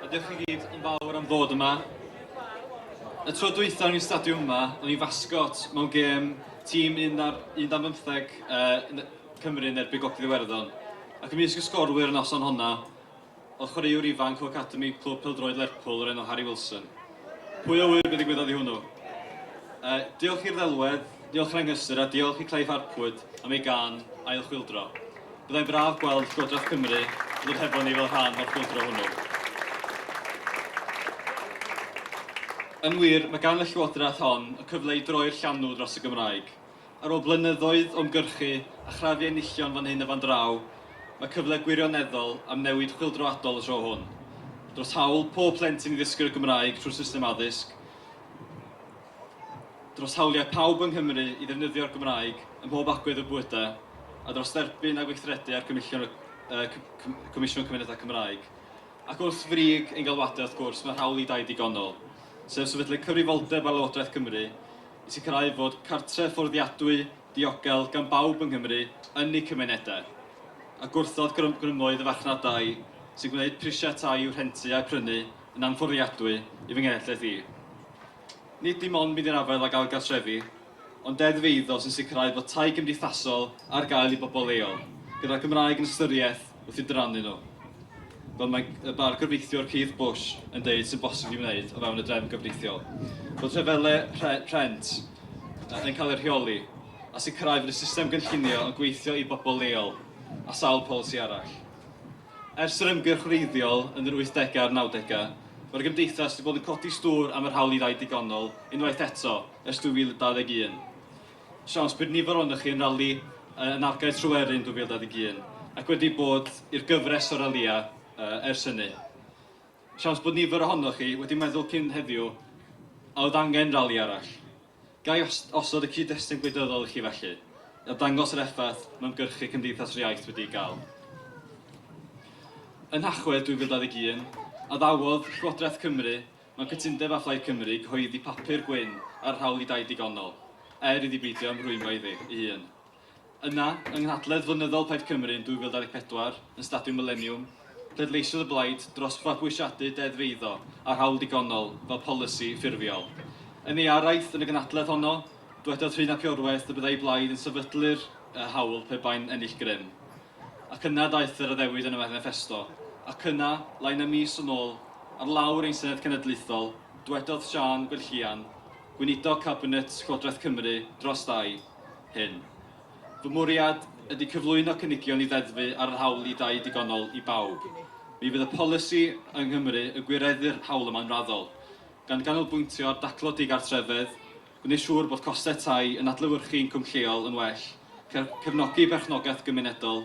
Diolch chi gyd yn fawr am ddod yma. Y tro dwytha o'n i'n stadiwm yma, o'n i'n fasgot mewn gêm tîm 11-15 uh, Cymru yn erbyn Gogledd Iwerddon. Ac ymysg y sgorwyr yn noson honna, o chwaraewr ifanc o academi clwb pêl-droed Lerpwl o'r enw Harry Wilson. Pwy a ŵyr be ddigwyddodd i hwnnw? Uh, diolch i'r ddelwedd, diolch Rhangysyr a diolch i Clive Harpwood am ei gan ail chwildro. Byddai'n braf gweld Llywodraeth Cymru ddod hefo ni fel rhan o'r chwildro hwnnw. Yn wir, mae gan y Llywodraeth hon y cyfle i droi'r llanw dros y Gymraeg. Ar ôl blynyddoedd o ymgyrchu a chrafu enillion fan hyn a fan draw, mae cyfle gwirioneddol am newid chwyldroadol y tro hwn. Dros hawl pob plentyn i ddysgu'r Gymraeg trwy'r system addysg, dros hawliau pawb yng Nghymru i ddefnyddio'r Gymraeg ym mhob agwedd o bywydau, a dros dderbyn a gweithredu ar gynullion y Comisiwn Cymunedau Cymraeg. Ac wrth frig ein galwadau, wrth gwrs, mae'r hawl i dai digonol, sef sefydlu cyfrifoldeb ar Lywodraeth Cymru, i sicrhau fod cartref fforddiadwy diogel gan bawb yng Nghymru yn eu cymunedau, a gwrthod grym grymoedd y farchnadau sy'n gwneud prisiau tai i'w rhentu a'u prynu yn anfforddiadwy i fy nghenhedlaeth i. Nid dim ond mynd i'r afael ag ailgartrefu, ond deddf eiddo sy'n sicrhau bod tai cymdeithasol ar gael i bobl leol, gyda'r Gymraeg yn ystyriaeth wrth i drannu nhw, fel mae y bar gyfreithiwr Keith Bush yn deud sy'n bosib i wneud o fewn y drefn gyfreithiol, bod rhyfelau rhe rhent yn cael eu rheoli a sicrhau fod y system gynllunio yn gweithio i bobl leol a sawl polisi arall. Ers yr ymgyrch wreiddiol yn yr 80au a'r 90au, mae'r gymdeithas wedi bod yn codi stŵr am yr hawl i ddau digonol unwaith eto ers 2021. Siawns bydd nifer ohonoch chi yn rali yn Argae Tryweryn 2021 ac wedi bod i'r gyfres o ralïau ers hynny. Siawns bod nifer ohonoch chi wedi meddwl cyn heddiw a oedd angen rali arall. Ga i osod y cyd-destun gwleidyddol i chi felly, a dangos yr effaith mae ymgyrchu Cymdeithas yr Iaith wedi ei gael. Yn Nhachwedd 2021, addawodd Llywodraeth Cymru Mae cytundeb â Phlaid Cymru gyhoeddi papur gwyn ar yr hawl i dai digonol, er iddi beidio ymrwymo iddi ei hun. Yna, yng nghynhadledd flynyddol Plaid Cymru yn 2024, yn Stadiwm Mileniwm, pleidleisiodd y blaid dros fabwysiadu deddf eiddo a'r hawl digonol fel polisi ffurfiol. Yn ei araith yn y gynhadledd honno, dwedodd Rhun ap Iorwerth y byddai'i blaid yn sefydlu'r hawl pe bai'n ennill grym. Ac yna daeth yr addewid yn y Maniffesto. Ac yna, lai na mis yn ôl, ar lawr ein Senedd Cenedlaethol, dwedodd Siân Gwenllian, Gweinidog Cabinet Llywodraeth Cymru dros dai, hyn, Fy mwriad ydy cyflwyno cynigion i ddeddfu ar yr hawl i dai digonol i bawb. Mi fydd y polisi yng Nghymru yn gwireddu'r hawl yma'n raddol, gan ganolbwyntio ar daclo digartrefedd, gwneud siŵr bod costau tai yn adlewyrchu incwm lleol yn well, cefnogi perchnogaeth gymunedol,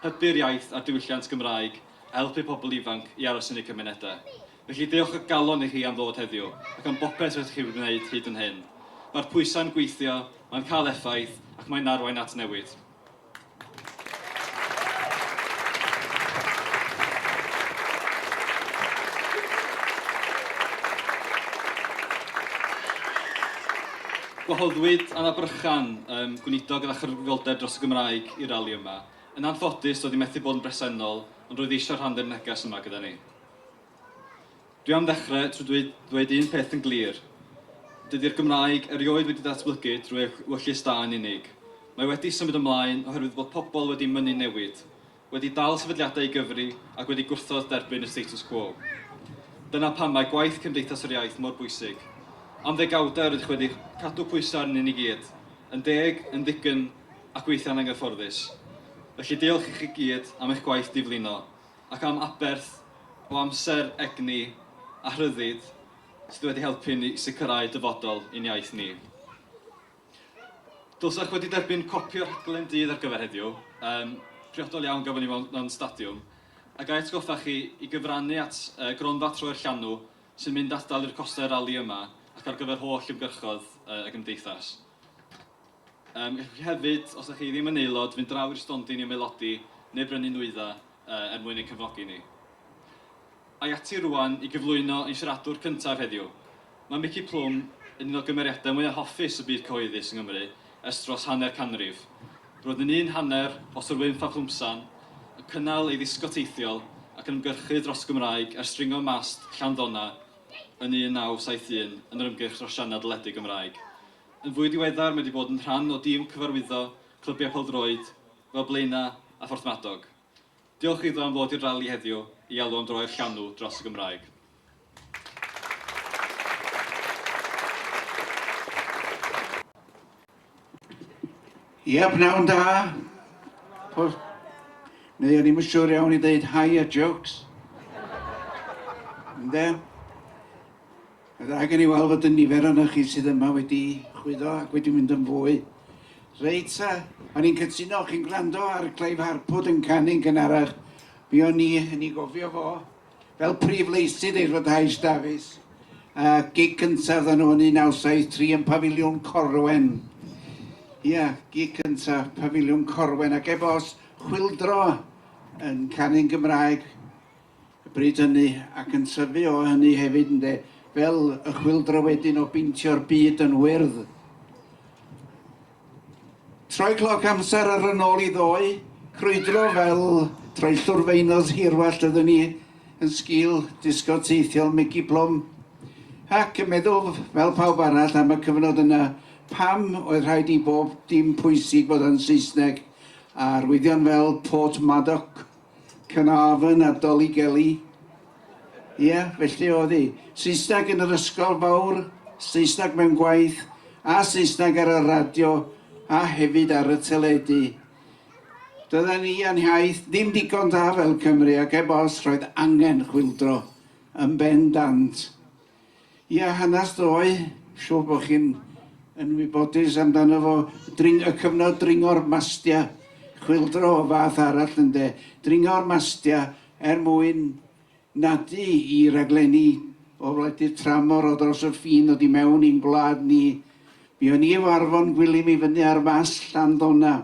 hybu'r iaith a'r diwylliant Gymraeg a helpu pobl ifanc i aros yn eu cymunedau. Felly, diolch o galon i chi am ddod heddiw ac am bopeth rydych chi wedi gwneud hyd yn hyn. Mae'r pwysau'n gweithio, mae'n cael effaith ac mae'n arwain at newid. Gwahoddwyd Anna Brychan, um, Gweinidog gyda Chyfrifoldeb dros y Gymraeg, i'r rali yma. Yn anffodus, doedd hi methu bod yn bresennol, ond roedd eisiau rhan dde'r neges yma gyda ni. Dwi am ddechrau trwy ddweud ddweud un peth yn glir. Dydy'r Gymraeg erioed wedi datblygu drwy eich wyllys da yn unig. Mae wedi symud ymlaen oherwydd bod pobl wedi mynnu newid, wedi dal sefydliadau i gyfri ac wedi gwrthod derbyn y status quo. Dyna pam mae gwaith Cymdeithas yr Iaith mor bwysig. Am ddegawdau rydych wedi cadw pwysau arnyn ni gyd, yn deg, yn ddigynnf ac weithiau'n anghyfforddus. Felly diolch i chi gyd am eich gwaith diflino. ac am aberth o amser, egni a rhyddid sydd wedi helpu ni sicrhau dyfodol i'n iaith ni. Dylsech wedi derbyn copi o'r rhaglen dydd ar gyfer heddiw, um, priodol iawn gafon ni mewn, mewn stadiwm, a gai atgoffa chi i gyfrannu at uh, gronfa troi'r llanw sy'n mynd atal i'r costau rali yma ac ar gyfer holl ymgyrchodd uh, y gymdeithas. Yym, gallwch chi hefyd, os dach chi ddim yn aelod, fynd draw i'r stondin i ymaelodi neu brynu nwyddau er mwyn ein cefnogi ni. Ai ati rŵan i gyflwyno ein siaradwr cyntaf heddiw. Mae Mici Plwm yn un o gymeriadau mwyaf hoffus y byd cyhoeddus yng Nghymru ers dros hanner canrif. Roedd yn un hanner o Sir Wynff a Phlwmsan, yn cynnal ei ddisgo teithiol ac yn ymgyrchu dros y Gymraeg ers dringo mast Llanddona yn 1971 yn yr ymgyrch dros sianel deledu Gymraeg. Yn fwy diweddar mae wedi bod yn rhan o dîm cyfarwyddo clybiau pêl-droed fel Blaenau a Phorthmadog. Diolch iddo am ddod i'r rali heddiw i alw am droi'r llanw dros y Gymraeg. Ia, pnawn da! Pwrs... Neu o'n i'm yn siŵr iawn i ddeud hi a jokes. Ynde? Mae dda gen i weld fod y nifer ohonoch chi sydd yma wedi chwyddo ac wedi mynd yn fwy. Reit ta, o'n i'n cytuno, chi'n gwrando ar Clive Harpwood yn canu'n gynharach, mi o'n i yn ei gofio fo fel prif leisydd ei rhyddhais Davies, a gig cyntaf dda nhw yn 1973 yn Pafiliwn Corwen. Ia, gig cyntaf, Pafiliwn Corwen, ac ebo's chwildro yn canu'n Gymraeg, y bryd hynny, ac yn tyfu o hynny hefyd, ynde, fel y chwyldro wedyn o beintio'r byd yn wyrdd. Troi cloc amser ar yn ôl i ddoe, crwydro fel troellwr feinos hirwallt ydyn ni, yn sgil disgo teithiol Mickey Plwm, ac yn meddwl fel pawb arall am y cyfnod yna, pam oedd rhaid i bob dim pwysig fod yn Saesneg, a arwyddion fel Port Madoc Caernarfon a Dollygelly. Ie, felly oedd hi. Saesneg yn yr ysgol fawr, Saesneg mewn gwaith, a Saesneg ar y radio, a hefyd ar y teledu. Doedden ni a'n hiaith ddim digon da fel Cymry ac heb os roedd angen chwyldro yn bendant. Ia, hanes ddoe, siŵr bod chi'n yn wybodus amdano fo, dring, y cyfnod dringo'r mastia, chwildro o fath arall ynde, dringo'r mastia er mwyn nadu i raglenni o wledydd tramor o dros y ffin ddod i mewn i'n gwlad ni. Buon ni efo Arfon Gwilym i fyny ar Fast Llanddona.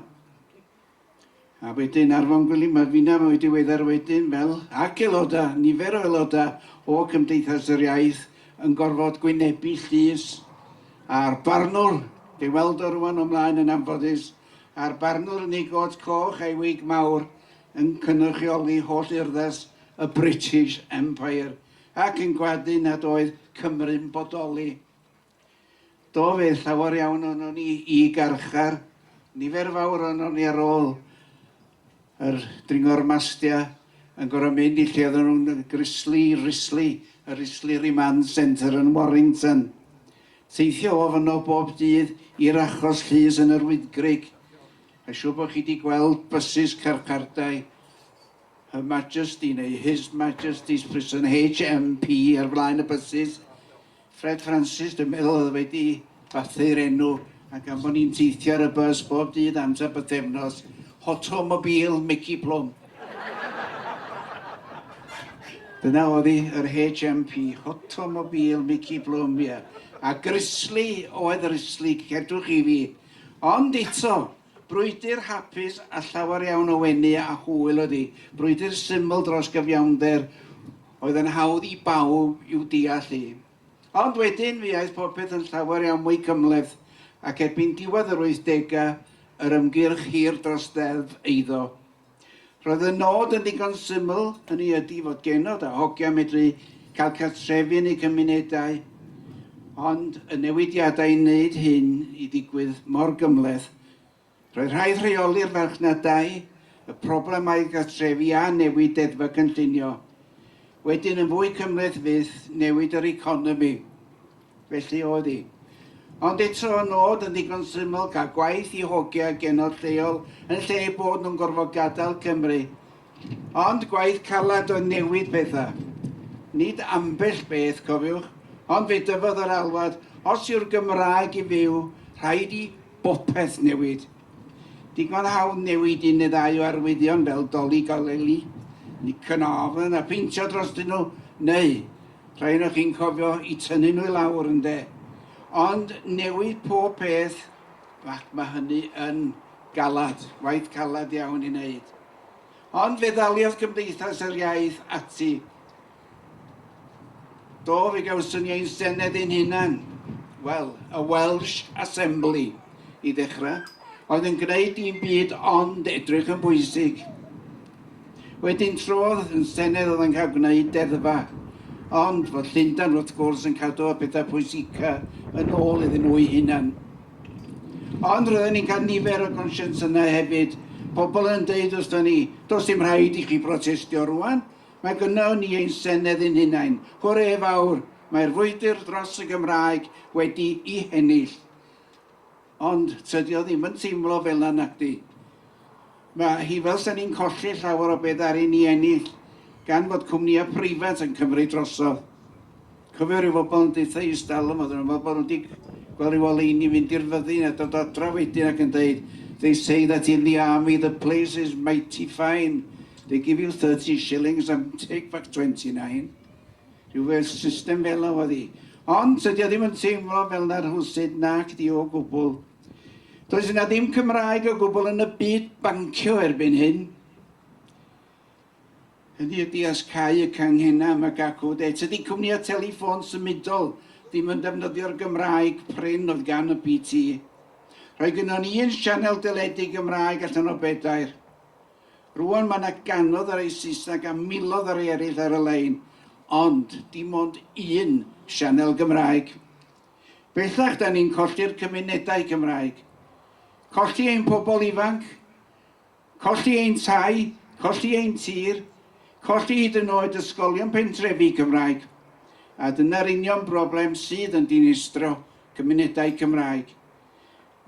A wedyn Arfon Gwilym a finna mwy diweddar wedyn fel, ac aelodau, nifer o aelodau o Cymdeithas yr Iaith yn gorfod gwynebu llys a'r barnwr, dwi'n weld o rŵan o mlaen yn anffodus, a'r barnwr yn ei got coch a'i wig mawr yn cynrychioli holl urddas y British Empire ac yn gwadu nad oedd Cymru'n bodoli. Do fe, llawer iawn ohonon ni i garchar, nifer fawr ohonon ni ar ôl yr dringo'r mastia yn gorau mynd i lle oedden nhw'n grislu, rislu, y Rislu Remand Centre yn Warrington. Teithio o fyno bob dydd i'r achos llys yn yr Wyddgrug. A siw bod chi wedi gweld bysus carchardai Her Majesty neu His Majesty's Prison HMP ar flaen y bysus. Fred Francis, dwi'n meddwl oedd wedi bathu'r enw, a gan bod ni'n teithio ar y bus bob dydd amser bythefnos, Hotomobile Mici Plwm. Dyna oedd hi, yr HMP, Hotomobile Mici Plwm, ie. A grisly oedd yr isli, credwch chi fi. Ond eto, Brwydr hapus a llawer iawn o wenu a hwyl oedd hi, brwydr syml dros gyfiawnder oedd yn hawdd i bawb i'w deall hi. Ond wedyn fe aeth popeth yn llawer iawn mwy cymhleth ac erbyn diwedd yr wythdegau yr ymgyrch hir dros ddeddf eiddo Roedd y nod yn ddigon syml, hynny ydy fod genod a hogia medru cael cartrefi yn eu cymunedau, ond y newidiadau i wneud hyn i ddigwydd mor gymhleth. Roedd rhaid rheoli'r farchnadau, y problemau cartrefi a newid deddfa cynllunio. Wedyn yn fwy cymhleth fyth newid yr economi. Felly oedd hi. Ond eto y nod yn ddigon syml, cael gwaith i hogia genod lleol yn lle eu bod nhw'n gorfod gadael Cymru. Ond gwaith caled oedd newid pethau. Nid ambell beth, cofiwch, ond fe dyfodd yr alwad, os yw'r Gymraeg i fyw, rhaid i bopeth newid. Digon hawdd newid un neu ddau o arwyddion fel 'Dolig a Lely', 'Nick Carnarvon' a pheintio drostyn nhw, neu Rhai onoch chi'n cofio i tynnu nhw i lawr, ynde? Ond newid pob peth, ac mae hynny yn galad, waith calad iawn i wneud. Ond fe ddaliodd Cymdeithas yr Iaith ati. Do, fe gawson ni ein senedd ein hunan. Wel, y Welsh Assembly, i ddechrau, oedd yn gwneud dim byd ond edrych yn bwysig. Wedyn trodd yn Senedd oedd yn cael gwneud deddfa, ond fod Llundain wrth gwrs yn cadw y pethau pwysica yn ôl iddyn nhw'i hunan. Ond roedden ni'n cael nifer o gonscience yna hefyd, pobl yn deud wrthyn ni, does dim rhaid i chi brotestio rwan, mae gynno ni ein Senedd yn hunain, hwre fawr, mae'r frwydr dros y Gymraeg wedi'i hennill. Ond tydi o ddim yn teimlo fel 'na nacdi? Ma' hi fel 'sa ni'n colli llawer o be' ddaru ni ennill gan fod cwmnïa' preifat yn cymryd drosodd. Cofio ryw fobol yn deutha i 'stalwm oedden nhw'n meddwl bod nhw 'di gweld ryw oleuni fynd i'r fyddin a dod adra wedyn ac yn deud They say that in the army the place is mighty fine, they give you thirty shillings and take back twenty nine. Rhywbeth system fela oedd hi. Ond tydi o ddim yn teimlo fel na rhwsyd nac di o gwbl. Does yna ddim Cymraeg o gwbl yn y byd bancio erbyn hyn. Hynny ydi os cau y canghena am y gacw de. Tydi cwmnïau telefon symudol ddim yn defnyddio'r Gymraeg prin oedd gan y BT. Rhoi gynnon ni un sianel deledu Gymraeg allan o bedair. Rwan mae 'na ganodd ar ei Saesneg a milodd ar ei eraill ar y lein, ond dim ond un sianel Gymraeg. Bellach 'da ni'n colli'r cymunedau Cymraeg. Colli ein pobl ifanc, colli ein tai, colli ein tir, colli hyd yn oed ysgolion pentrefi Cymraeg. A dyna'r union broblem sydd yn dinistrio cymunedau Cymraeg.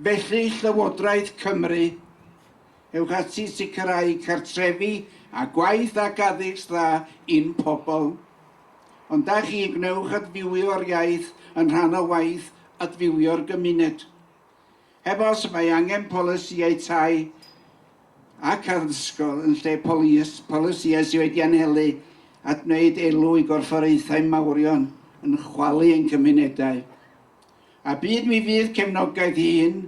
Felly, Llywodraeth Cymru, ewch ati i sicrhau cartrefi a gwaith ac addysg dda i'n pobl. Ond da chi, gwnewch adfywio'r iaith yn rhan o waith adfywio'r gymuned. Heb os, mae angen polisïau tai ac addysgol yn lle polisïau sydd wedi anelu at wneud elw i gorfforaethau mawrion yn chwalu ein cymunedau. A byd mi fydd cefnogaeth i hyn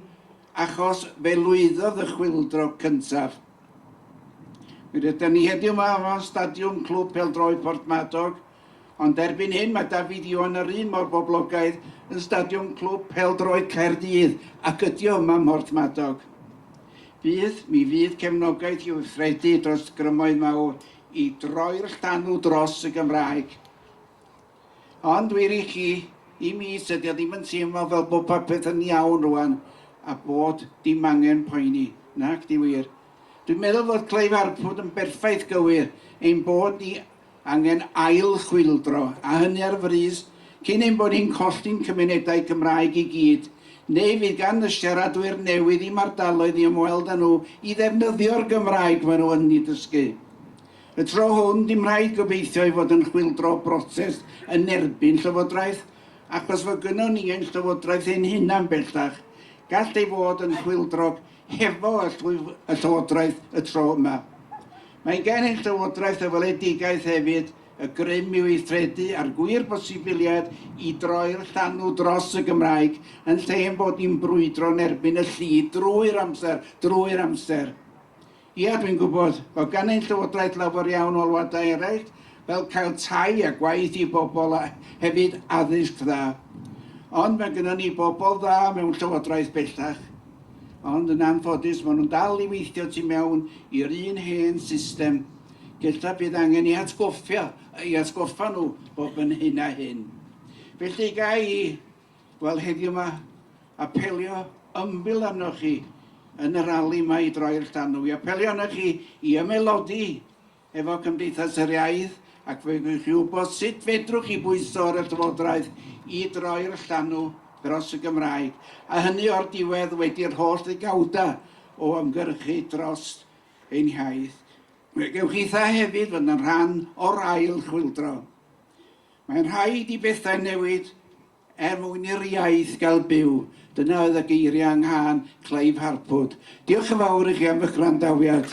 achos fe lwyddodd y chwyldro cyntaf. Mi rydan ni heddiw yma o stadiwm Clwb Pêl-droed Porthmadog, ond erbyn hyn mae David Ioan yr un mor boblogaidd yn stadiwm Clwb Pêl-droed Caerdydd ac ydi o yma ym Mhorthmadog. Bydd mi fydd cefnogaeth i weithredu dros grymoedd mawr i droi'r llanw dros y Gymraeg. Ond wir i chi, i mi, tydi o ddim yn teimlo fel bod popeth yn iawn rŵan a bod dim angen poeni. Nac 'di wir. Dwi'n meddwl fod Clive Arpwood yn berffaith gywir, ein bod ni angen ail-chwyldro, a hynny ar frys, cyn ein bod ni'n colli'n cymunedau Cymraeg i gyd, neu fydd gan y siaradwyr newydd i'm ardaloedd i ymweld â nhw i ddefnyddio'r Gymraeg maen nhw yn ei dysgu. Y tro hwn, dim rhaid gobeithio i fod yn chwyldro brotest yn erbyn Llywodraeth, achos fo gynnon ni ein Llywodraeth ein hunan bellach. Gall ei fod yn chwyldrog hefo y Llywodraeth y tro yma. Mae gan ein Llywodraeth y weledigaeth hefyd, y grym i weithredu a'r gwir bosibiliad i droi'r llanw dros y Gymraeg, yn lle ein bod ni'n brwydro yn erbyn y lli drwy'r amser, drwy'r amser. Ia, dwi'n gwybod, bod gan ein Llywodraeth lawer iawn o alwadau eraill, fel cael tai a gwaith i bobl a hefyd addysg dda. Ond mae gennym ni bobl dda mewn Llywodraeth bellach. Ond yn anffodus, maen nhw'n dal i weithio tu mewn i'r un hen system. Gellaf bydd angen ei atgoffa, ei atgoffa nhw bob yn hyn a hyn. Felly, ga i Wel, heddiw 'ma, apelio ymbil arnoch chi yn y rali 'ma i droi'r llanw, i apelio arnoch chi i ymaelodi efo Cymdeithas yr Iaith ac fe wnewch chi wybod sut fedrwch chi bwyso ar y Llywodraeth i droi'r llanw dros y Gymraeg, a hynny o'r diwedd wedi'r holl ddegawda o ymgyrchu dros ein hiaith. Fe gewch chitha hefyd fod yn rhan o'r ail chwyldro. Mae'n rhaid i bethau newid er mwyn i'r iaith gael byw, dyna oedd y geiriau yng nghân Clive Harpwood. Diolch yn fawr i chi am eich gwrandawiad.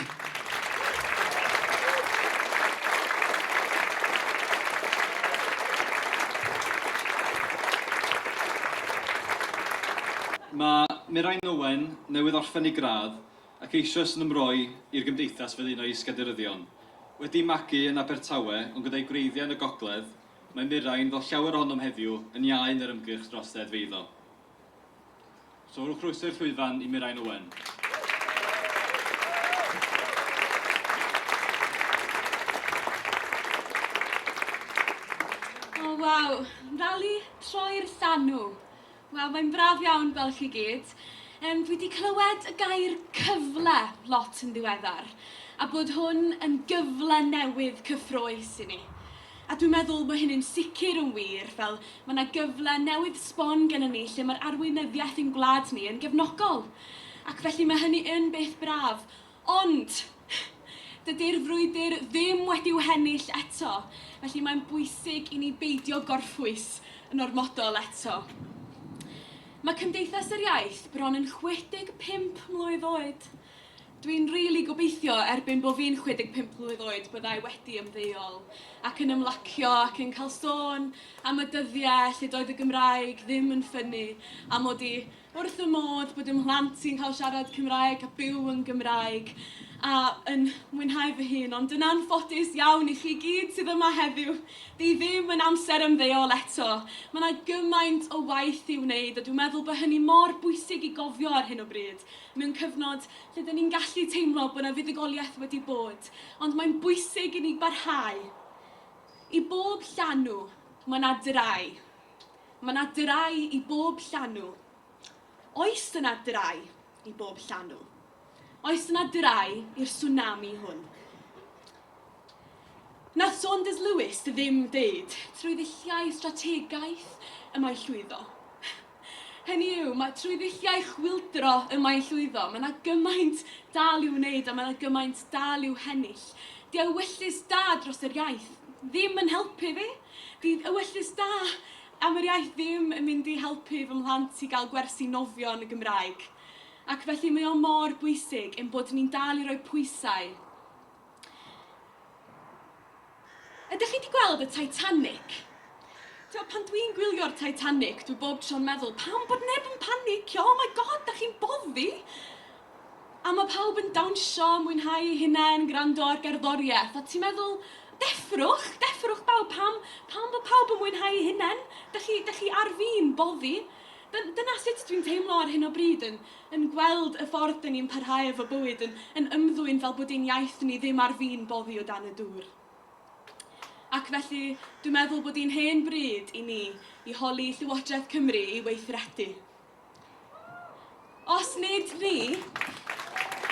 Mae Mirain Owen newydd orffen ei gradd ac eisoes yn ymroi i'r gymdeithas fel un o'i is-gadeiryddion. Wedi magu yn Abertawe ond gyda'i gwreiddiau yn y gogledd, mae Mirain, fel llawer ohonom heddiw, yn iau yn yr ymgyrch dros ddeddfeiddo. So rhowch groeso i'r llwyfan i Mirain Owen. O waw, rali troi'r llanw! Wel, mae'n braf iawn gweld chi gyd. Yym, dwi 'di clywed y gair 'cyfle' lot yn ddiweddar, a bod hwn yn gyfle newydd cyffrous i ni. A dwi'n meddwl bod hynny'n sicr yn wir, fel mae 'na gyfle newydd sbon gennym ni lle mae'r arweinyddiaeth i'n gwlad ni yn gefnogol. Ac felly mae hynny yn beth braf. Ond, dydy'r frwydr ddim wedi'w hennill eto, felly mae'n bwysig i ni beidio gorffwys yn ormodol eto. Mae Cymdeithas yr Iaith bron yn 65 mlwydd oed. Dwi'n rili gobeithio erbyn bo fi'n 65 mlwydd oed byddai wedi ymddeol ac yn ymlacio ac yn cael sôn am y dyddiau lle doedd y Gymraeg ddim yn ffynnu a mod i wrth fy modd bod 'y mhlant i'n cael siarad Cymraeg a byw yn Gymraeg a yn mwynhau fy hun, ond yn anffodus iawn i chi gyd sydd yma heddiw, di ddim yn amser ymddeol eto. Mae 'na gymaint o waith i'w wneud a dwi'n meddwl bod hynny mor bwysig i gofio ar hyn o bryd, mewn cyfnod lle 'da ni'n gallu teimlo bod 'na fuddugoliaeth wedi bod, ond mae'n bwysig i ni barhau. I bob llanw, mae 'na drai. Mae 'na drae i bob llanw. Oes yna drae i bob llanw? Oes yna drae i'r swnami hwn? Nath Saunders Lewis ddim deud trwy ddulliau strategaeth y mae'n llwyddo. Hynny yw, mae trwy ddulliau chwyldro y mae'n llwyddo. Mae 'na gymaint dal i'w wneud a mae 'na gymaint dal i'w hennill. Diewyllys da dros yr iaith. Ddim yn helpu fi. Bydd ewyllys da am yr iaith ddim yn mynd i helpu fy mhlant i gael gwersi nofio yn y Gymraeg. Ac felly mae o mor bwysig ein bod ni'n dal i roi pwysau. Ydych chi 'di gweld y Titanic? Tibod, pan dwi'n gwylio'r Titanic, dwi bob tro'n meddwl, pam bod neb yn panicio? Oh my God, dach chi'n boddi? A ma' pawb yn dawnsio, mwynhau'u hunain, gwrando ar gerddoriaeth, a ti'n meddwl, deffrwch, deffrwch bawb, pam, pam bod pawb yn mwynhau'u hunain? Dych chi, dych chi ar fin boddi? Dyn- dyna sut dwi'n teimlo ar hyn o bryd, yn, yn gweld y ffordd dyn ni'n parhau efo bywyd, yn, yn ymddwyn fel bod ein iaith ni ddim ar fin boddi o dan y dŵr. Ac felly, dwi'n meddwl bod hi'n hen bryd i ni i holi Llywodraeth Cymru i weithredu. Os nid ni,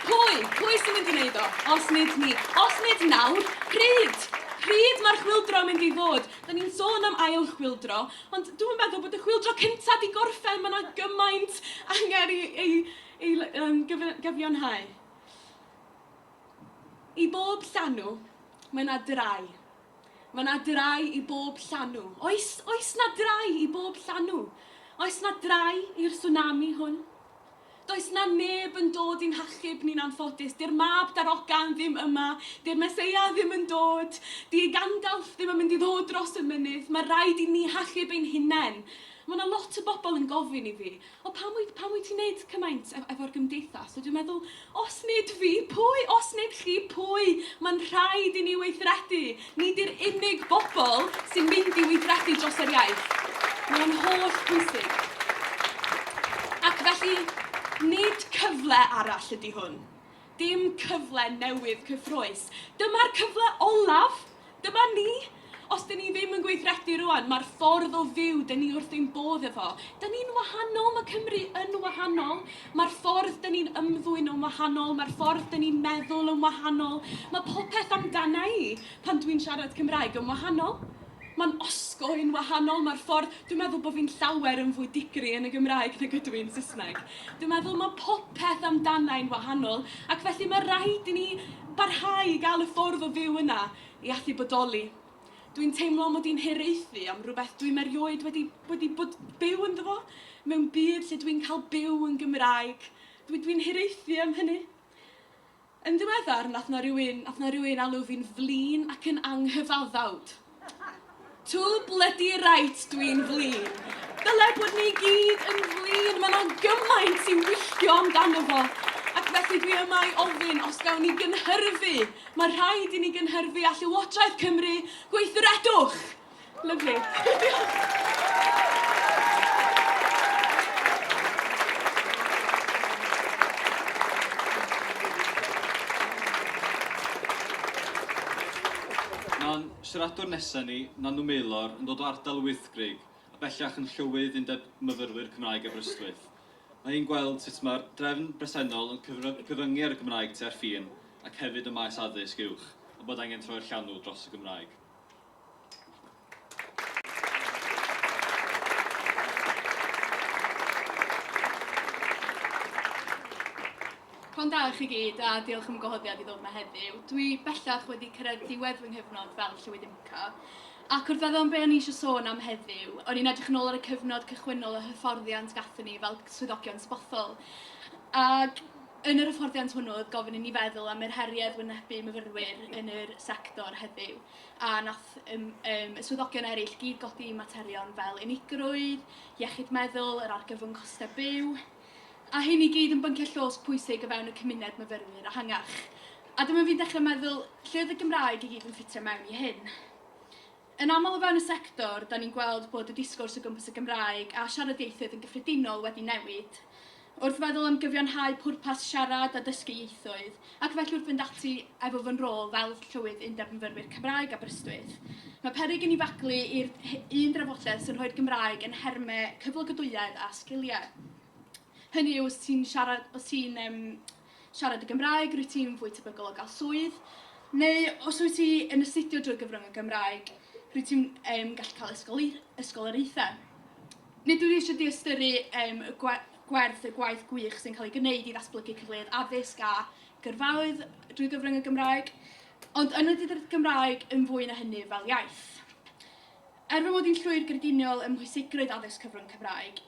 pwy? Pwy sy'n mynd i wneud o? Os nid ni. Os nid nawr, pryd? Pryd mae'r chwildro mynd i fod? Da ni'n sôn am ail chwildro, ond dwi'n meddwl bod y chwildro cyntaf di gorffen, mae yna gymaint angen ei, ei, ei um, gyfiawnhau. I bob llanw, mae yna drai. Mae 'na drae i bob llanw. Oes, oes 'na drae i bob llanw? Oes 'na drae i'r tsunami hwn? Does 'na neb yn dod i'n hachub ni'n anffodus. Di'r mab darogan ddim yma. Di'r Meseia ddim yn dod. Di Gandalf ddim yn mynd i ddod dros y mynydd. Mae rhaid i ni hachub ein hunain. Mae 'na lot o bobl yn gofyn i fi, O pam wyt, pam wyt ti'n neud cymaint ef, efo'r gymdeithas? A dwi'n meddwl, os nid fi, pwy? Os nid chi, pwy? Mae'n rhaid i ni weithredu. Ni di'r unig bobl sy'n mynd i weithredu dros yr iaith. Mae'n holl bwysig. Ac felly, nid cyfle arall ydy hwn. Dim cyfle newydd cyffrous. Dyma'r cyfle olaf! Dyma ni! Os 'dyn ni ddim yn gweithredu rŵan, mae'r ffordd o fyw 'dyn ni wrth ein bodd efo. 'Dyn ni'n wahanol, mae Cymru yn wahanol. Mae'r ffordd 'dyn ni'n ymddwyn yn wahanol, mae'r ffordd 'dyn ni'n meddwl yn wahanol, mae popeth amdana i, pan dwi'n siarad Cymraeg, yn wahanol. Mae'n osgo yn wahanol, mae'r ffordd... Dwi'n meddwl bod fi'n llawer yn fwy digri yn y Gymraeg nag ydw i'n Saesneg. Dwi'n meddwl mae popeth amdanai'n wahanol ac felly mae rhaid i ni barhau i gael y ffordd o fyw yna i allu bodoli. Dwi'n teimlo mod i'n hiraethu am rywbeth dwi'm erioed wedi wedi bod byw ynddo fo, mewn byd lle dwi'n cael byw yn Gymraeg. Dwi dwi'n hiraethu am hynny. Yn ddiweddar, nath 'na rywun, nath 'na rywun alw fi'n flin ac yn anghyfaddawd. Too bloody right dwi'n flin. Dyle bod ni gyd yn flin, mae 'na gymaint i wylltio amdano fo. Ac felly dwi yma i ofyn os gawn ni gynhyrfu, mae rhaid i ni gynhyrfu a Llywodraeth Cymru, gweithredwch! Lyfli. Mae'n siaradwr nesaf ni, Nanw Maelor, yn dod o ardal y Wyddgrug, a bellach yn Llywydd Undeb Myfyrwyr Cymraeg Aberystwyth. Mae hi'n gweld sut mae'r drefn bresennol yn cyfyngu ar y Gymraeg tua'r ffin ac hefyd ym maes addysg uwch, a bod angen troi'r llanw dros y Gymraeg. Pnawn da i chi gyd a diolch am y gwahoddiad i ddod yma heddiw. Dwi bellach wedi cyrraedd diwedd fy nghyfnod fel Llywydd IMCA ac wrth feddwl am be o'n i eisiau sôn am heddiw, o'n i'n edrych yn ôl ar y cyfnod cychwynnol y hyfforddiant gathon ni fel swyddogion sbothol. Ac yn yr hyfforddiant hwnnw oedd gofyn i ni feddwl am yr heriau oedd wynebu myfyrwyr yn yr sector heddiw. a nath ym, ym, y swyddogion eraill gyd godi materion fel unigrwydd, iechyd meddwl, yr argyfwng costau byw, a hyn i gyd yn bynciau llos pwysig o fewn y cymuned myfyrwyr ehangach. A dyma fi'n dechrau meddwl, lle oedd y Gymraeg i gyd yn ffitio mewn i hyn? Yn aml o fewn y sector, da ni'n gweld bod y disgwrs o gwmpas y Gymraeg a siarad ieithoedd yn gyffredinol wedi newid, Wrth feddwl am gyfiawnhau pwrpas siarad a dysgu ieithoedd, ac felly wrth fynd ati efo fy nrôl fel Llywydd Undeb Myfyrwyr Cymraeg Aberystwyth, mae peryg i ni faglu i'r un drafodaeth sy'n rhoi'r Gymraeg yn nhermau cyflogadwyedd a sgiliau. Hynny yw, os ti'n siarad, os ti'n, um, Siarad y Gymraeg, rwyt ti'n fwy tebygol o gael swydd, neu os wyt ti yn astudio drwy gyfrwng y Gymraeg, rwyt ti'n um, gallu cael ysgoloriaethau. Nid ydw i eisiau diystyrru um, y gwe gwerth y gwaith gwych sy'n cael ei gwneud i ddatblygu cyfleoedd addysg a gyrfaoedd drwy gyfrwng y Gymraeg, ond yn y Gymraeg yn fwy na hynny fel iaith. Er fy mod i'n llwyr grediniol ym mhwysigrwydd addysg cyfrwng Cymraeg,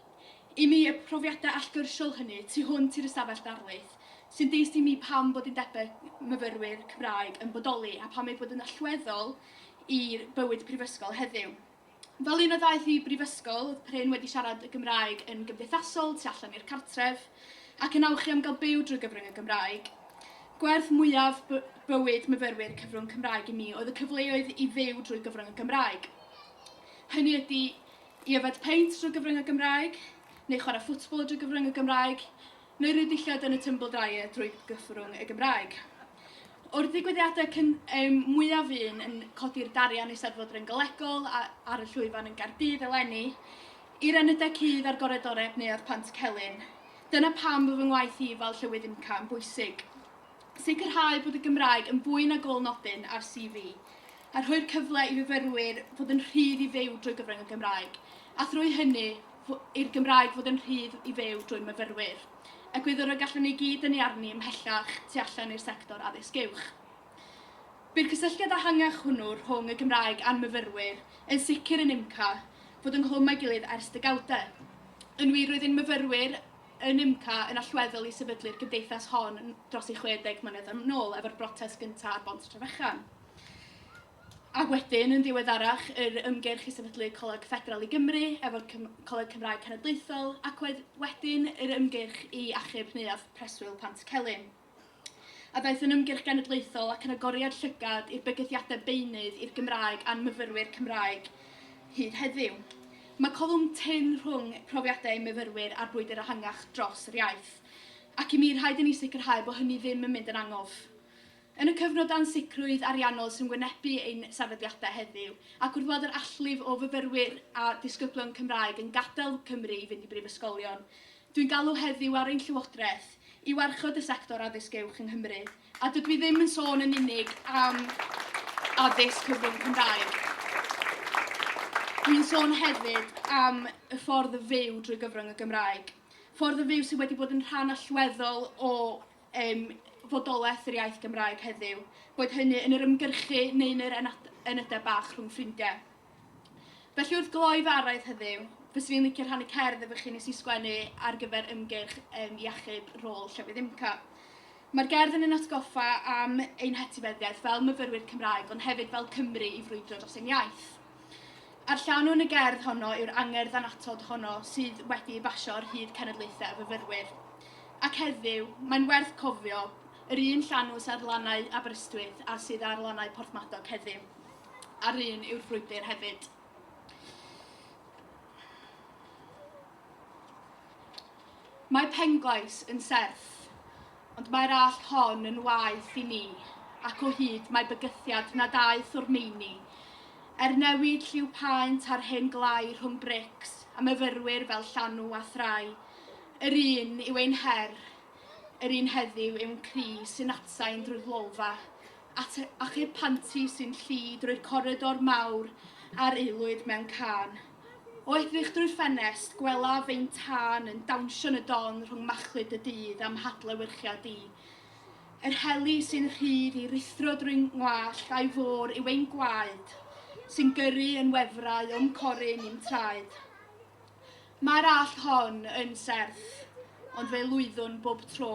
i mi y profiadau allgyrsiol hynny tu hwnt i'r ystafell ddarlith sy'n dyst i mi pam bod undebau myfyrwyr Cymraeg yn bodoli a pam eu bod yn allweddol i bywyd prifysgol heddiw. Fel un a ddaeth i brifysgol, oedd prin wedi siarad y Gymraeg yn gymdeithasol, tu allan i'r cartref, ac yn awchu am gael byw drwy gyfrwng y Gymraeg. Gwerth mwyaf bywyd myfyrwyr cyfrwng Cymraeg i mi oedd y cyfleoedd i fyw drwy gyfrwng y Gymraeg. Hynny ydy i yfed peint drwy gyfrwng y Gymraeg, neu chwarae ffwtbol drwy gyfrwng y Gymraeg, neu rhyw ddillad yn y Tumble Dryer drwy gyfrwng y Gymraeg. O'r digwyddiadau cyn, um, mwyaf un yn codi'r darian Eisteddfod Ryngolegol ar y llwyfan yn Gardydd eleni, I'r enydau cudd a'r goredoreb Neuadd Pant Celyn. Dyna pam fo fy ngwaith i fel Llywydd IMCA yn bwysig. Sicrhau bod y Gymraeg yn fwy na gôl nodyn ar CV, a rhoi'r cyfle i fyfyrwyr fod yn rhydd i fyw drwy gyfrwng y Gymraeg, a thrwy hynny, i'r Gymraeg fod yn rhydd i fyw drwy'n myfyrwyr. Egwyddor y gallwn ni gyd dynnu arni ymhellach tu allan i'r sector addysg uwch. Bydd cysylltiad ehangach hwnnw rhwng y Gymraeg a'n myfyrwyr yn sicr yn UMCA fod ynghlwm â'i gilydd ers degawdau. Yn wir, roedd ein myfyrwyr yn UMCA yn allweddol i sefydlu'r gymdeithas hon dros ei 60 mlynedd yn ôl, efo'r brotest gyntaf ar Bont Trefechan, ac wedyn, yn ddiweddarach, yr ymgyrch i sefydlu Coleg Ffederal i Gymru efo'r Coleg Cymraeg Cenedlaethol, ac wedyn, yr ymgyrch i achub Neuadd Preswyl Pant-y-celyn. a ddaeth yn ymgyrch genedlaethol ac yn agoriad llygad i'r bygythiadau beunydd i'r Gymraeg a'n myfyrwyr Cymraeg hyd heddiw. Mae colwm tynn rhwng profiadau ein myfyrwyr a'r brwydr ehangach dros yr iaith, ac i mi rhaid i ni sicrhau bod hynny ddim yn mynd yn angof. Yn y cyfnod o ansicrwydd ariannol sy'n wynebu ein sefydliadau heddiw, ac wrth weld yr allif o fyfyrwyr a disgyblion Cymraeg yn gadael Cymru i fynd i brifysgolion Dwi'n galw heddiw ar ein Llywodraeth i warchod y sector addysg uwch yng Nghymru, a dydw i ddim yn sôn yn unig am addysg cyfrwng Cymraeg. Dwi'n sôn hefyd am y ffordd o fyw drwy gyfrwng y Gymraeg, ffordd o fyw sydd wedi bod yn rhan allweddol o um, fodolaeth yr iaith Gymraeg heddiw, boed hynny yn yr ymgyrchu neu yn yr enad- enydau bach rhwng ffrindiau. Felly wrth gloi fy araith heddiw, fyswn i'n licio rhannu cerdd efo chi nes i sgwennu ar gyfer ymgyrch um, iechyd rôl llefydd IMCA. Mae'r gerdd yn yn atgoffa am ein hetifeddiaeth fel myfyrwyr Cymraeg, ond hefyd fel Cymru i frwydro dros ein iaith. A'r llanw yn y gerdd honno yw'r angerdd anatod honno sydd wedi ei basio ar hyd cenedlaethau y fyfyrwyr. Ac heddiw, mae'n werth cofio yr un llanw sydd ar lannau Aberystwyth a sydd ar lannau Porthmadog heddiw. a'r un yw'r frwydr hefyd. Mae Penglais yn serth, ond mae'r allt hon yn waeth i ni, ac o hyd mae bygythiad na daeth o'r meini. Er newid lliw paent ar hen glai rhwng brics a myfyrwyr fel llanw a thrai, yr un yw ein her, yr un heddiw yw'n cri sy'n atsain drwy'r lolfa, at achub panti sy'n llu drwy'r coridor mawr a'r aelwyd mewn cân. O edrych drwy'r ffenest, gwelaf ein tân yn dawnsio yn y don rhwng machlud y dydd a'm hadlewyrchiad di. Yr heli sy'n rhydd i rithro drwy ngwallt a'i fôr yw ein gwaed, sy'n gyrru yn wefrau o'm corin i'm traed. Mae'r allt hon yn serth, ond fe lwyddwn bob tro.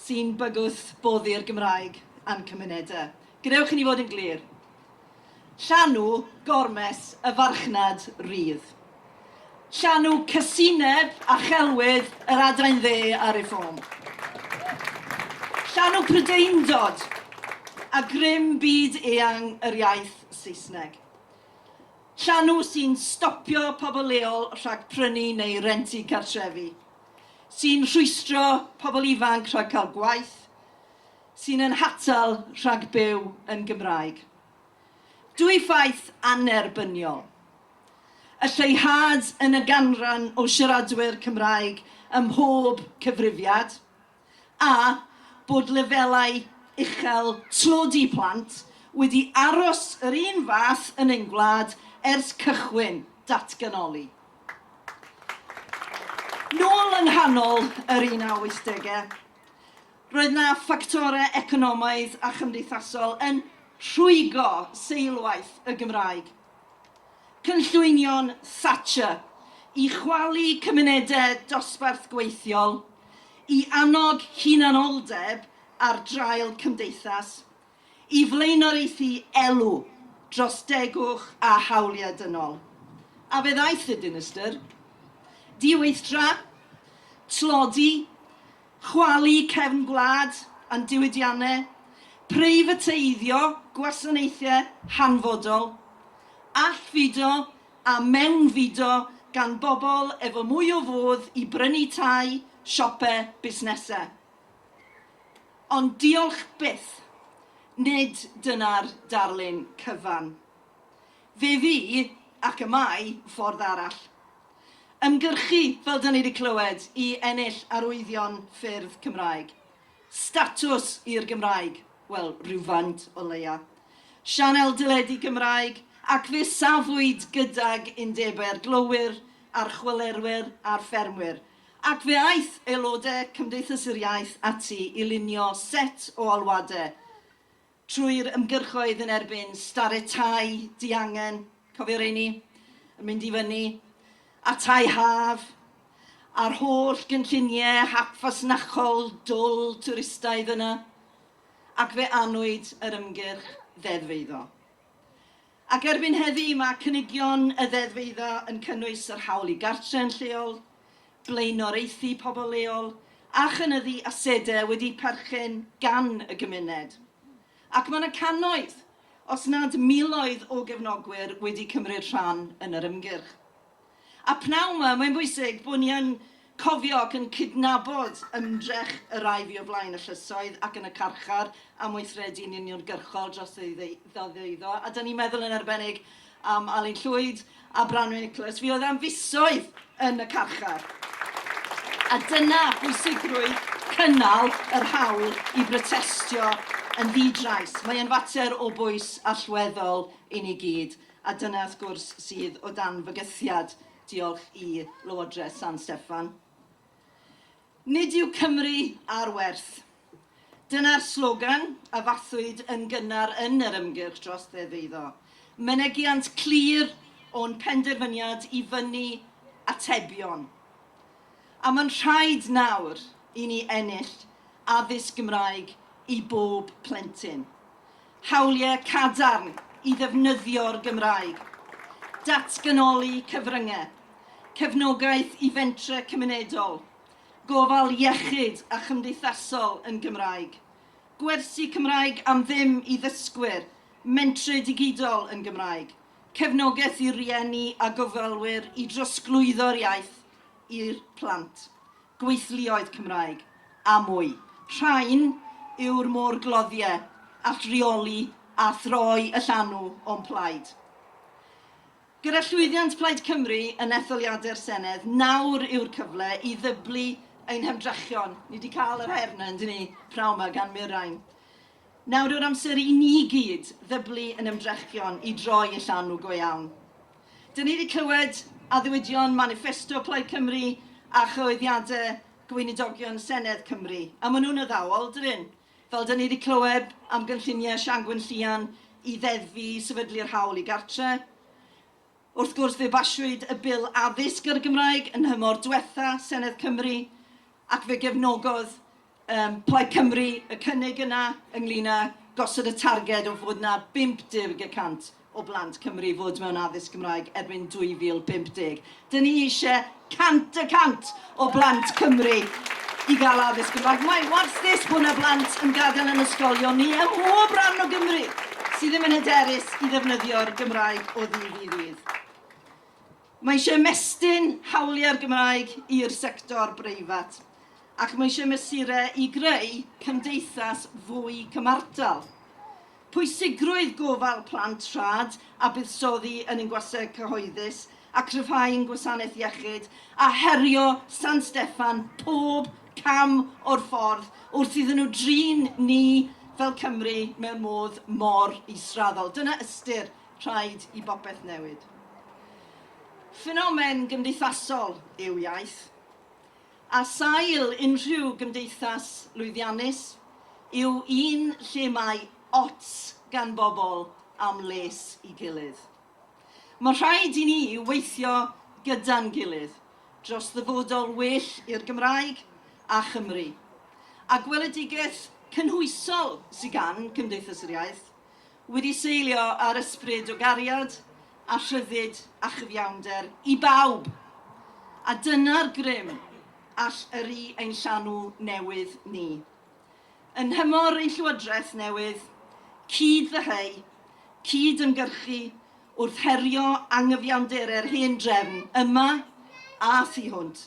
sy'n bygwth boddi'r Gymraeg a'n cymunedau. Gwnewch i ni fod yn glir. Llanw gormes y farchnad rydd. Llanw casineb a chelwydd yr adain dde a Reform. Llanw prydeindod a grym byd eang yr iaith Saesneg. Llanw sy'n stopio pobl leol rhag prynu neu rentu cartrefi. sy'n rhwystro pobl ifanc rhag cael gwaith, sy'n ein hatal rhag byw yn Gymraeg. Dwy ffaith annerbyniol. Y lleihad yn y ganran o siaradwyr Cymraeg ym mhob cyfrifiad, a bod lefelau uchel tlodi plant wedi aros yr un fath yn ein gwlad ers cychwyn datganoli. Nôl yng nghanol yr un a wythdegau, roedd na ffactorau economaidd a chymdeithasol yn rhwygo seilwaith y Gymraeg Cynllwynion Thatcher i chwalu cymunedau dosbarth gweithiol, i annog hunanoldeb ar draul cymdeithas, i flaenoriaethu elw dros degwch a hawliau dynol. A fe ddaeth y dinistr. Diweithdra, tlodi, Chwalu cefn gwlad a'n diwydiannau, preifateiddio gwasanaethau hanfodol, allfudo a mewnfudo gan bobl efo mwy o fodd i brynu tai, siope, busnesau. Ond diolch byth, nid dyna'r darlun cyfan. Fe fu, ac y mae, ffordd arall. Ymgyrchu, fel 'da ni 'di clywed, i ennill arwyddion ffyrdd Cymraeg. Statws i'r Gymraeg, wel, rywfaint o leia. Sianel deledu Cymraeg, ac fe safwyd gydag undebau'r glowyr a'r chwalerwyr a'r ffermwyr, ac fe aeth aelodau Cymdeithas yr Iaith ati i lunio set o alwadau Trwy'r ymgyrchoedd yn erbyn starred tai diangen, cofio rheini? yn mynd i fyny, a'r tai haf, a'r holl gynlluniau hap fasnachol dwl twristaidd yna, ac fe anwyd yr ymgyrch ddeddf eiddo. Ac erbyn heddi mae cynigion y ddeddfeiddo yn cynnwys yr hawl i gartre yn lleol, blaenoriaethu pobl leol a chynyddu asedau wedi perchen gan y gymuned. Ac mae yna cannoedd, os nad miloedd o gefnogwyr wedi cymryd rhan yn yr ymgyrch. A pnawn 'ma, mae'n bwysig bod ni yn cofio ac yn cydnabod ymdrech y rhai fu o flaen y llysoedd ac yn y carchar am weithredu'n uniongyrchol dros ddeuddo, a 'da ni'n meddwl yn arbennig am Alun Llwyd a Branwen Nicholas, fuodd am fisoedd yn y carchar. A dyna bwysigrwydd cynnal yr hawl i brotestio yn ddi-drais. Mae e'n fater o bwys allweddol i ni gyd. A dyna, wrth gwrs, sydd o dan fygythiad, diolch i Lywodraeth San Steffan. Nid yw Cymru ar werth. Dyna'r slogan a fathwyd yn gynnar yn yr ymgyrch dros Ddeddf Eiddo. Mynegiant clir o'n penderfyniad i fynnu atebion. A mae'n rhaid nawr i ni ennill addysg Gymraeg i bob plentyn, hawliau cadarn i ddefnyddio'r Gymraeg, datganoli cyfryngau, cefnogaeth i fentrau cymunedol, gofal iechyd a chymdeithasol yn Gymraeg, gwersi Cymraeg am ddim i ddysgwyr, mentrau digidol yn Gymraeg, cefnogaeth i rieni a gofalwyr i drosglwyddo'r iaith, i'r plant, gweithluoedd Cymraeg a mwy. Rhain yw'r môr-gloddie all reoli a throi y llanw o'm plaid. Gyda llwyddiant Plaid Cymru yn etholiadau'r Senedd, nawr yw'r cyfle i ddyblu ein hymdrechion. Ni 'di cael yr her 'na, yndyn ni, praw 'ma gan Mirain. Nawr yw'r amser i ni gyd ddyblu yn ymdrechion i droi y llanw go iawn. Dyn ni wedi clywed addewidion maniffesto Plaid Cymru a chyhoeddiadau Gweinidogion Senedd Cymru, a maen nhw'n addawol, dyn nhw? Fel dyn ni wedi clywed am gynlluniau Siangwyn Llian i ddeddfu i sefydlu'r hawl i gartre'. Wrth gwrs fe basiwyd y Bil Addysg ar y Gymraeg yn nhymor diwetha' Senedd Cymru ac fe gefnogodd Ym Plaid Cymru, y cynnig yna ynglŷn â gosod y targed o fod 'na 50 y cant o blant Cymru fod mewn addysg Gymraeg erbyn 2050. Dyn ni eisiau 100 y cant o blant Cymru i gael addysg Gymraeg. Mae wastys bod 'na blant yn gadael yn ysgolion ni ym mhob rhan o Gymru sydd ddim yn hyderus i ddefnyddio'r Gymraeg o ddydd i ddydd. Mae eisiau ymestyn hawliau'r Gymraeg i'r sector breifat, ac mae eisiau mesurau i greu cymdeithas fwy cymhartal. Pwysigrwydd gofal plant rhad a buddsoddi yn ein gwasau cyhoeddus a chryfhau ein gwasanaeth iechyd, a herio San Steffan pob cam o'r ffordd wrth iddyn nhw drin ni fel Cymry mewn modd mor israddol. Dyna ystyr Rhaid i bopeth newid. Ffenomen gymdeithasol yw iaith. A sail unrhyw gymdeithas lwyddiannus yw un lle mae ots gan bobl am les i gilydd. Mae rhaid i ni weithio gyda'n gilydd dros ddyfodol well i'r Gymraeg a Chymru. A gweledigaeth cynhwysol sy gan Cymdeithas yr Iaith wedi seilio ar ysbryd o gariad a rhyddid a chyfiawnder i bawb, a dyna'r grym all yrru ein llanw newydd ni. Yn nhymor ein Llywodraeth newydd, cyd-ddyheu, cyd-ymgyrchu wrth herio angyfiawnderau'r hen drefn yma a thu hwnt,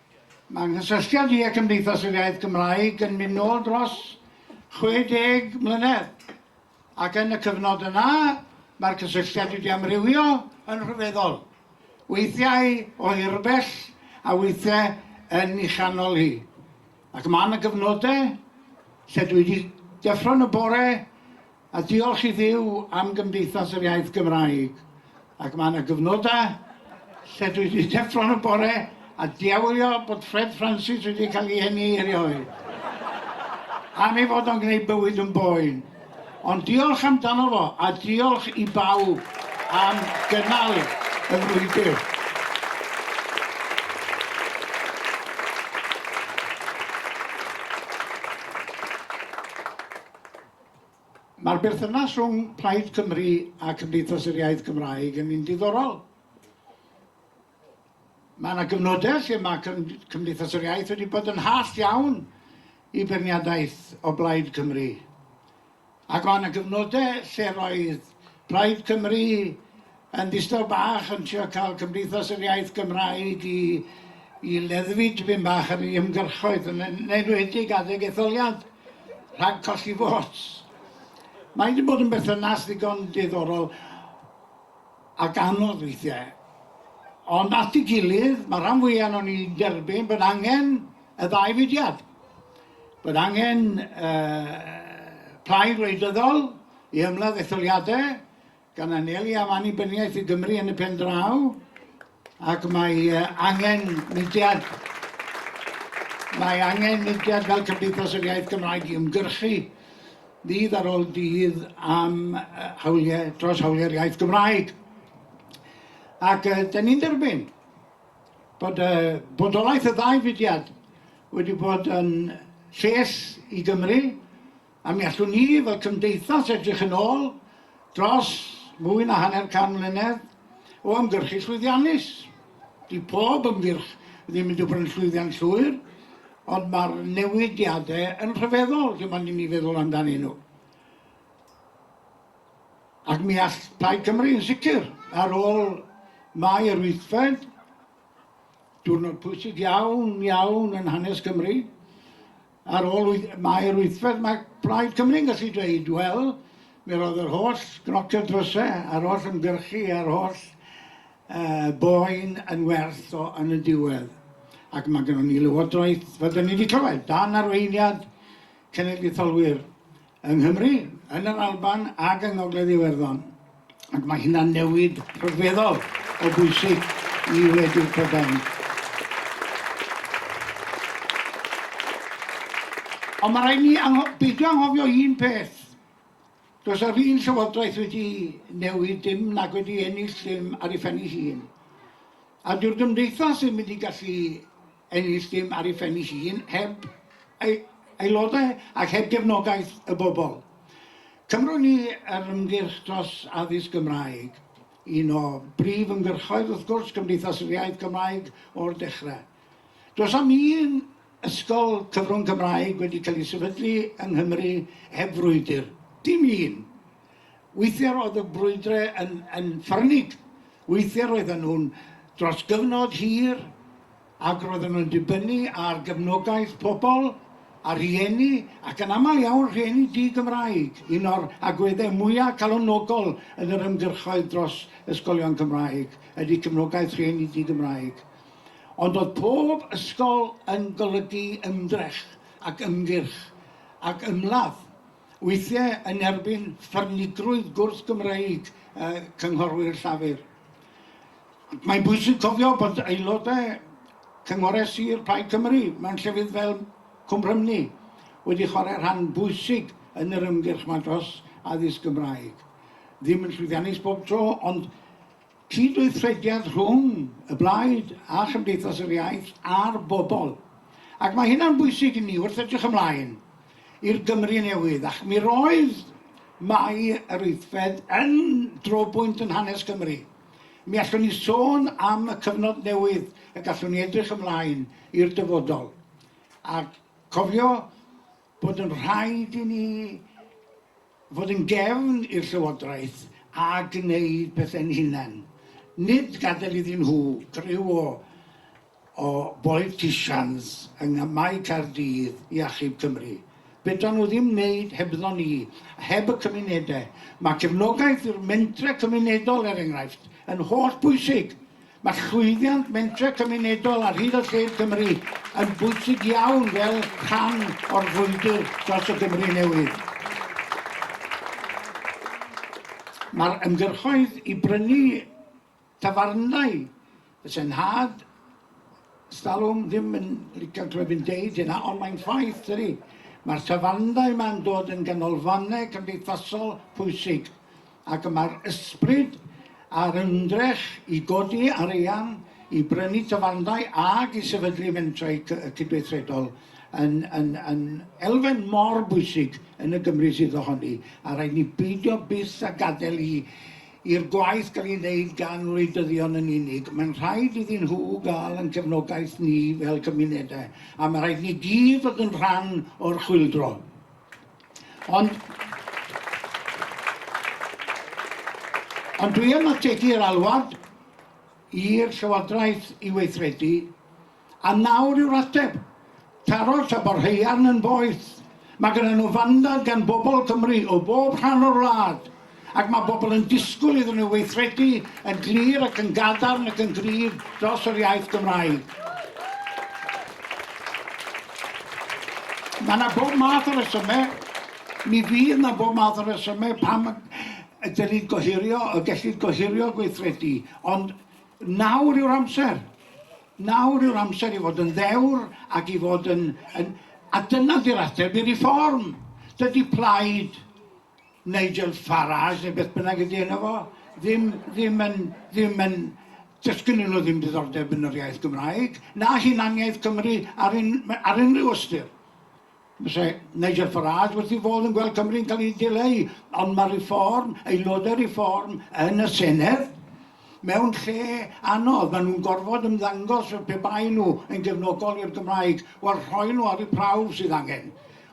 Mae nghysylltiad i â Cymdeithas yr Iaith Gymraeg yn mynd nôl dros 60 mlynedd, ac yn y cyfnod yna mae'r cysylltiad wedi amrywio yn rhyfeddol, weithiau o hir bell a weithiau yn ei chanol hi, ac mae 'na gyfnodau lle dwi 'di deffro yn y bore A diolch i Dduw am Gymdeithas yr Iaith Gymraeg, ac mae 'na gyfnodau lle dwi 'di deffro yn y bore a diawlio bod Fred Francis wedi cael ei eni erioed, am ei fod o'n gwneud bywyd yn boen. Ond diolch amdano fo, a diolch i bawb am gynnal y frwydr. Mae'r berthynas rhwng Plaid Cymru a Cymdeithas yr Iaith Gymraeg yn un diddorol. Mae yna gyfnodau lle mae Cymdeithas yr Iaith wedi bod yn hall iawn i beirniadaeth o Blaid Cymru. Ac mae yna gyfnodau lle roedd Plaid Cymru Yn ddistaw bach yn trio cael Cymdeithas yr Iaith Gymraeg i i leddfu dipyn bach ar ei ymgyrchoedd, yn yn enwedig adeg etholiad, rhag colli votes. Mae wedi bod yn berthynas ddigon diddorol ac anodd weithiau. Ond at ei gilydd, mae rhan fwyaf ohonon ni'n derbyn bod angen y ddau fudiad. Bod angen uh, plaid wleidyddol i ymladd etholiadau, gan anelu am annibyniaeth i Gymru yn y pen draw, ac mae angen mudiad mae angen mudiad fel Cymdeithas yr Iaith Gymraeg i ymgyrchu ddydd ar ôl dydd am hawliau, dros hawliau'r iaith Gymraeg. Ac uh, da ni'n derbyn bod uh, bodolaeth y ddau fudiad wedi bod yn lles i Gymru, A mi allwn ni, fel cymdeithas, edrych yn ôl dros fwy na hanner can mlynedd o ymgyrchu llwyddiannus. Dyw pob ymgyrch ddim yn dibynnu'n llwyddiant llwyr, ond mae'r newidiadau yn rhyfeddol lle mae'n ni feddwl amdanyn nhw. Ac mi all Plaid Cymru yn sicr, ar ôl Mai yr wythfed, diwrnod pwysig iawn, iawn yn hanes Cymru, Ar ôl tair wythfed mae Plaid Cymru'n gallu dweud, wel, mi roedd yr holl gnociodd dryse a'r holl ymgyrchu a'r holl boen yn werth o yn y diwedd. Ac mae gynnon ni Lywodraeth, fel 'dan ni 'di clywed, dan arweiniad cenedlaetholwyr yng Nghymru, yn yr Alban ac yng Ngogledd Iwerddon, ac mae hynna'n newid rhyfeddol o bwysig i wledydd Prydain. Ond mae rhaid ni angho beidio anghofio un peth. Does yr un llywodraeth wedi newid dim nag wedi ennill dim ar ei phen ei hun. A dyw'r gymdeithas ddim wedi gallu ennill dim ar ei phen ei hun heb ei aelodau ac heb gefnogaeth y bobl. Cymrwn ni yr ymgyrch dros addysg Gymraeg, un o brif ymgyrchoedd wrth gwrs Cymdeithas yr Iaith Gymraeg o'r dechrau. Does am un ysgol cyfrwng Cymraeg wedi cael ei sefydlu yng Nghymru heb frwydr, dim un! Weithiau roedd y brwydre yn, yn ffyrnig. Weithiau roedden nhw'n dros gyfnod hir ac roedden nhw'n dibynnu ar gefnogaeth pobl a rhieni, ac yn aml iawn rhieni di-Gymraeg, un o'r agweddau mwyaf calonogol yn yr ymgyrchoedd dros ysgolion Cymraeg ydy cefnogaeth rhieni di-Gymraeg. Ond oedd pob ysgol yn golygu ymdrech ac ymgyrch ac ymladd weithiau yn erbyn ffyrnigrwydd gwrth-Gymreig cynghorwyr Llafur. Mae'n bwysig cofio bod aelodau Cynghorau Sir Plaid Cymru mewn llefydd fel Cwm Rhymni wedi chwarae rhan bwysig yn yr ymgyrch 'ma dros addysg Gymraeg. Ddim yn llwyddiannus bob tro, ond cydweithrediad rhwng y Blaid a Chymdeithas yr Iaith a'r bobl, ac mae hynna'n bwysig i ni wrth edrych ymlaen i'r Gymru newydd, ac mi roedd Mai yr Wythfed yn drobwynt yn hanes Cymru. Mi allwn ni sôn am y cyfnod newydd y gallwn ni edrych ymlaen i'r dyfodol, a cofio bod yn rhaid i ni fod yn gefn i'r Llywodraeth a gwneud pethau'n hunain, nid gadael iddyn nhw griw o o boliticians yng ngamau Caerdydd i achub Cymru. Fedran nhw ddim wneud hebddo ni, a heb y cymunedau. Mae cefnogaeth i'r mentrau cymunedol, er enghraifft, yn hollbwysig. Mae llwyddiant mentrau cymunedol ar hyd a lled Cymru yn bwysig iawn fel rhan o'r frwydr dros y Gymru newydd. Mae'r ymgyrchoedd i brynu tafarndai y Senhad, stalwm, ddim yn licio clywed fi'n deud hynna, ond mae'n ffaith, dydy. Mae'r tafarndai yma'n dod yn ganolfannau cymdeithasol pwysig. ac mae'r ysbryd a'r ymdrech i godi arian i brynu tafarndai ac i sefydlu mentrau cydweithredol yn yn yn elfen mor bwysig yn y Gymru sydd ohoni, a rhaid ni beidio byth â gadael i i'r gwaith gael ei wneud gan wleidyddion yn unig. Mae'n rhaid iddyn nhw gael ein cefnogaeth ni fel cymunedau, a mae rhaid ni gyd fod yn rhan o'r chwyldro. Ond... Ond dwi am ategu'r alwad i'r Llywodraeth i weithredu, a nawr yw'r ateb. Taro'r tymor haearn yn boeth. Mae gyda nhw fandad gan bobl Cymru o bob rhan o'r wlad. Ac mae pobl yn disgwyl iddyn nhw weithredu yn glir ac yn gadarn ac yn gryf dros yr iaith Gymraeg. Mae yna bob math o resymau, mi fydd yna bob math o resymau pam ydy'n ni'n gohirio y gellid gohirio gweithredu, ond nawr yw'r amser. Nawr yw'r amser i fod yn ddewr ac i fod yn... yn a dyna di'r ateb i reform. Dydy plaid Nigel Farage neu beth bynnag ydy enw fo, ddim, ddim yn, ddim yn, does gynnyn nhw ddim diddordeb yn yr iaith Gymraeg, na hunaniaeth Cymru ar un, ar unrhyw ystyr. Fyse Nigel Farage wrth ei fodd yn gweld Cymru'n cael ei dileu, ond mae Reform, aelodau Reform yn y Senedd, mewn lle anodd. Maen nhw'n gorfod ymddangos fel pe baen nhw yn gefnogol i'r Gymraeg. Wel, rhoi nhw ar eu prawf sydd angen.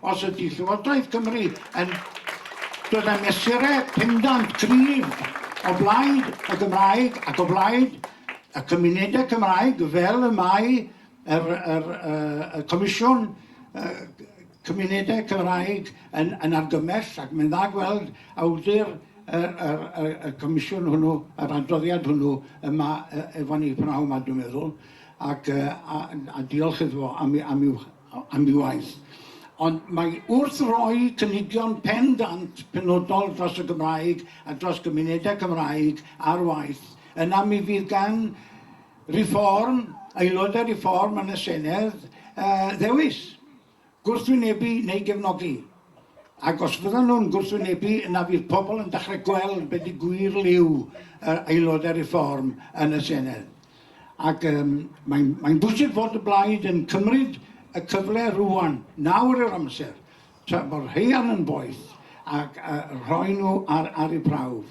Os ydy Llywodraeth Cymru yn dod â mesurau pendant cryf o blaid y Gymraeg ac o blaid y cymunedau Cymraeg, fel y mae yr, yr, uh, y Comisiwn uh, Cymunedau Cymraeg yn, yn argymell, ac mae'n dda gweld awdur y, y, y, y comisiwn hwnnw, yr adroddiad hwnnw yma efo ni pnawn yma, dwi'n meddwl, ac, uh, a, a diolch iddo fo am, am i'w am ei waith. Ond mae wrth roi cynigion pendant penodol dros y Gymraeg a dros gymunedau Cymraeg ar waith, yna mi fydd gan Reform, aelodau Reform yn y Senedd, ddewis, gwrthwynebu neu gefnogi. Ac os fyddan nhw'n gwrthwynebu, yna fydd pobl yn dechrau gweld beth i gwir liw yr Aelodau Reform yn y Senedd. Ac um, mae'n mae bwysig fod y blaid yn cymryd y cyfle rwan, nawr yw'r amser, tra bod rheian yn boeth, ac uh, rhoi nhw ar, ar eu prawf.